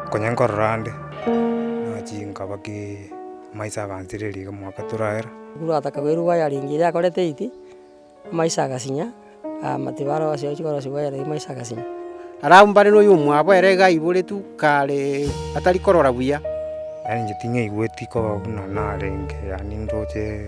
Konya nkorora ande, nachi nkaba amaiso agansireria iga omwaka toraera. Ekero gwataka koirwa waya ringi eria yakore tight, amaiso agasinya, amatibe aro ase ochia korosia waya riria amaiso agasinya. Arabu mbare noyo omwabo ere iga aiboretwe kare atari korora buya. Yaani inche ting'aigweti koba buna narenge yaani ndoche.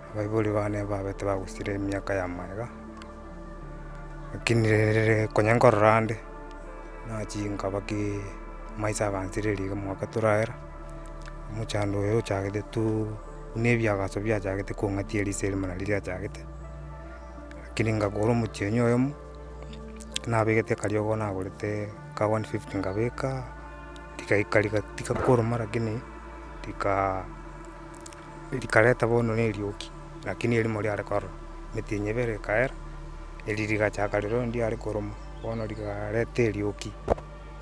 Abaibori bane babe tibagosira emiaka ya maega, lakini rere konya nkorora ande, nachia nkaba ki maiso agansereria iga omwaka toragera, omochando oyo ochagete tu buna ebiagaso biachagete kong'atia eriso erimo nari riachagete, lakini nkagora omotienyi oyomo, nabegete akariogo nagorete ka wani fifti nkabeka, rigaika riga tiga koruma lakini rikaa. Rikareta bono nerioki, lakini erimo riare korora, emete eye ebere ekaera, eri rigachaka rirorio ndiare koroma, bono rikareta erioki,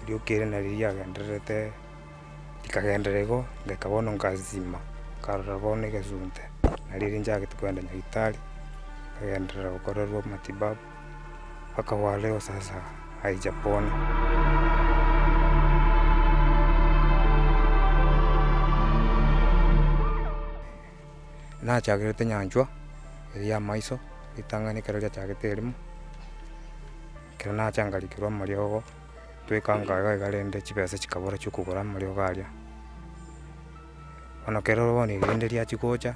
erioki ere nari riagendererete rikagendera igo, ngaka bono nkasisima, nkarora bono egesunte, nari eri nchagete kogenda nyagetari, nkagenderera gokorerwa matibabu. akagwa Leo sasa aicha bono. Nachagerete nyanchwa eye ya maiso ritang'ani ekero riachagete erimo, ekero nacha ngarikerwa amariogo twekanga iga iga rende chibesa chikabora chiokogora amariogo aria. Bono kero bono erinde riachia gocha.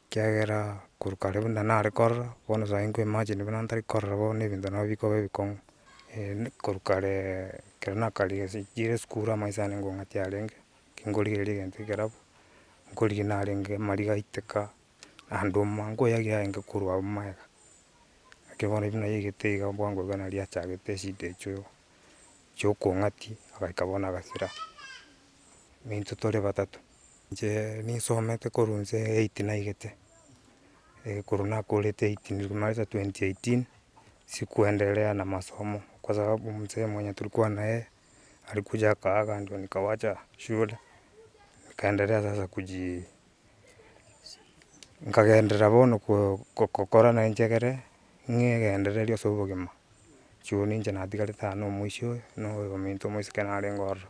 Ekiagera korwa kare buna nare korora, bono saii nkoimagine buna ntari korora bono na ebinto nabwo bikoba ebikong'u. korwa kare ekero nakarigia ase chire esukuru amaiso ane ngong'ati arenge, kingorigereria egento ekeraba, nkorigia narenge mari gaiteka, naende omwa nkoyagia arenge korwa agwo magega. Naki bono buna yaigete iga bwango iga nari achagete eshida echio, chiokong'ati, agaika bono agasira. Nintwe tore batato. Inche ninsomete korwa nse eight naigete, korwa nakorete eight nareta twenty eighteen, sikuenderea na masomo, kwa sababu msee mwenye tulikuwa na yeye, alikuja akaaga ndio nikawacha shule, nikaenderea sasa kuji nkagenderera bono ko- kokora na enchegere, ng'egendereria ase obogima, juu ninche natigarete aa na omwoiso oyo, na oyo ominto omosike narenge ororo.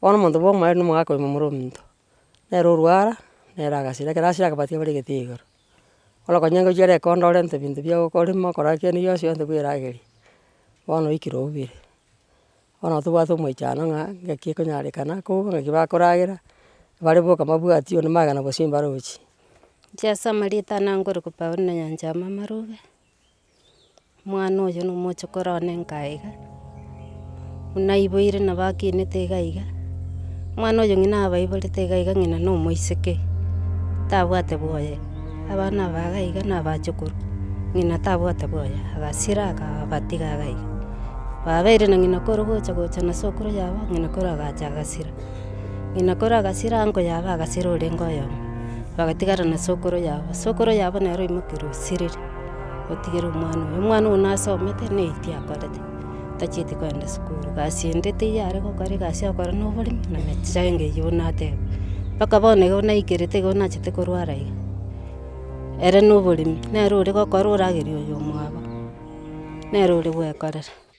Bono omonto bwa omorembe nigo mogaka korema omoro ominto, nere orwara, nere agasira, ekero asira akabwati kebare egetii igoro. Bono okonyora ngochia reko ndore nte binto bia okorema okora ki erio gionsi gionsi bweragerie, bono oikire oubire. Bono nabo tobwate omoichano ng'a ng'aki ekonyarekana koo ng'aki bakoragera, bare boka mabwati onde magena bosio mbarochi. Inche ase amarita ane angorokwa Paulo na Nyancha ya Mamarobe. Omwana oyo nomochokoro one enka iga, buna aiboire nabo akinete iga iga, omwana oyo ng'ina abaiborete iga iga ng'ina nomoiseke, tabwate bwoye, abana aba iga iga na abachokoro, ng'ina tabwate bwoye, agasira akabatiga iga iga. Babeire na ng'ina kore gocha gocha na sokoro yabo, ng'ina koro agacha agasira, ng'ina koro agasira ango yabo agasira orenge oyomo, bagatigara na sokoro yabo, sokoro yabo nere oimokeire osirire. otigere omwana oyo. Omwana oyo nasomete na eyikia akorete, tachieti kogenda sukuru. Egasi ende teiyo are gokora egasi ya okora na oboremi na emechando eyio bono nateba. Mpaka bono igo naikerete igo nachete korwara iga. Ere na oboremi, nere ore gokora oragerie oyo omwabo, nere ore gwekorera.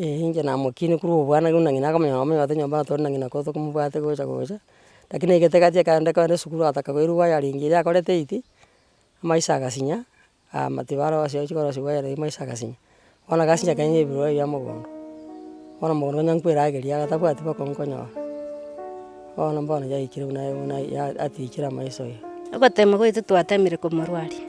Ee, inche namokinie korwa obwana buna ng'ina akamonyora ng'a omonyabate nyomba natore na ng'ina ko tokomobwate gocha gocha, lakini egete egati ekero kogenda esukuru agataka koirwa wire ring eria akorete eiti, amaiso agasinya, aa matiyo barosia ochia korosia wire ring amaiso agasinya, bono agasinya ekero nyiumete ebibarwa bia mogondo, bono mogondo nonya nkoe eragera iga tabwati boko nkonyora, bono mbono yaikire buna buna ya atichire amaiso iga. Ogotema gwaito twatemire komorwaria.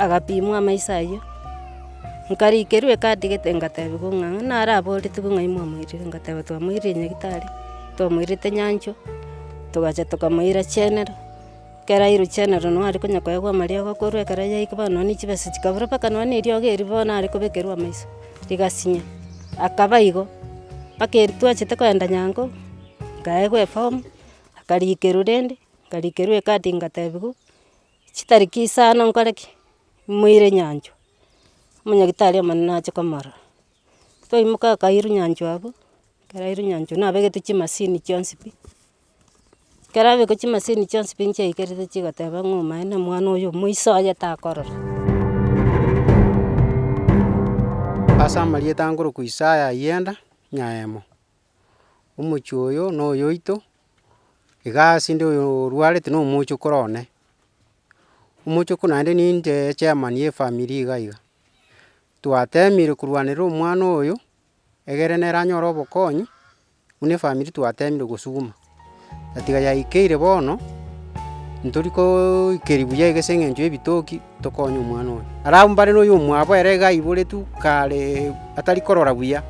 Agapimwa amaiso ayio, nkarikerwa ekatigete ngatebigwa ng'a ng'a nare aboretigwe ng'ai mwamoirire, ngateba twamoirire nyagetari, twamoirete nyanchwa, togacha tokamoira chenero, ekero airwe chenero nabo are konya koegwa amariogo korwa ekero yaikwa bono nonye chibesa chikabura mpaka nonye na eriogo erio bono are kobekerwa amaiso, rigasinya, akaba igo, mpaka eri twachete kogenda nyango, nkaegwa efomu, akarikerwa rende, nkarikerwa ekati ngatebigwa. Chitariki isano nkore ki? Moire nyanchwa, omonyagitari omonene ache komorora. Twaimoka akairwa nyanchwa abwo, ekero airwe nyanchwa nabegete chimasini chionsi pi, ekero abekwa chimasini chionsi pi nchiakerete chigoteba ng'a omaene omwana oyo omoiso aye takorora. Ase amarieta ankorokwa Isaya Ayenda, Nyaemo, omochie oyo noyoito. Igaa ase 'nde oyo orwarete na omochokoro one, omochoko naende ninte echairman ye efamiri iga iga, twatemire korwanera omwana oyo egere nere anyore obokonyi, buna efamiri twatemire gosuguma, atiga yaikeire bono, ntori koooikeri buya iga ase eng'encho y'ebitoki. Tokonye omwana oyo. Are abwo mbare noyomwabo ere iga aiboretwe kare atari korora buya.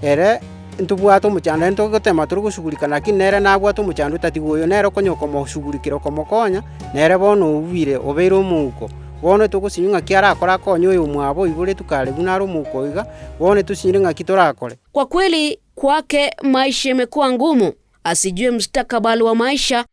Ere ntobwate omochando, aye togotema tore gosugurika, lakini nere nabwate omochando otatigwa oyo nere okonya okomosugurikera okomokonya, nere bono ouwire, obeire omouko. Bono togosinywa ng'aki arakore akonye oyomwabo oiboretwe kare buna are omouko iga, bono tosinyire ng'aki torakore. Kwa kweli kwake maisha yamekuwa ngumu, asijue mstakabali wa maisha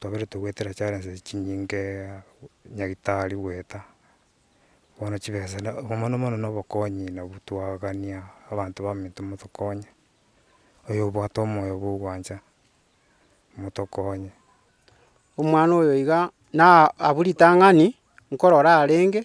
twaberetwe goetera charenses chinyingee nyagitari goeta, bono chibesa na mono mono na obokonyi nabwo twagania abanto baminto motokonye, oyo obwate omoyo bwa ogwancha, motokonye. Omwana oyo iga na abwo ritang'ani, nkorora arenge.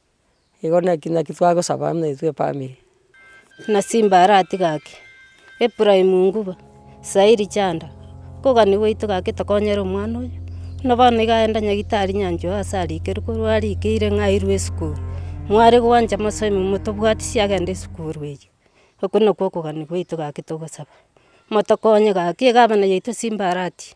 Igo naki naki twagosaba buna intwe efamiri. Buna simba arati gaki, Ephraim nguba, Sairi chanda, nkogani gwaito gaki tokonyere omwana oyo, buna bono iga aenda nyagitari nyanchwa oo ase arikire korwa arikeire ng'a airwe esukuru. Mware gwancha mosemi motobwatisi agende esukuru eye. Oko nakwo okogani gwaito gaki togosaba, motokonye gaki egabana yaito simba arati.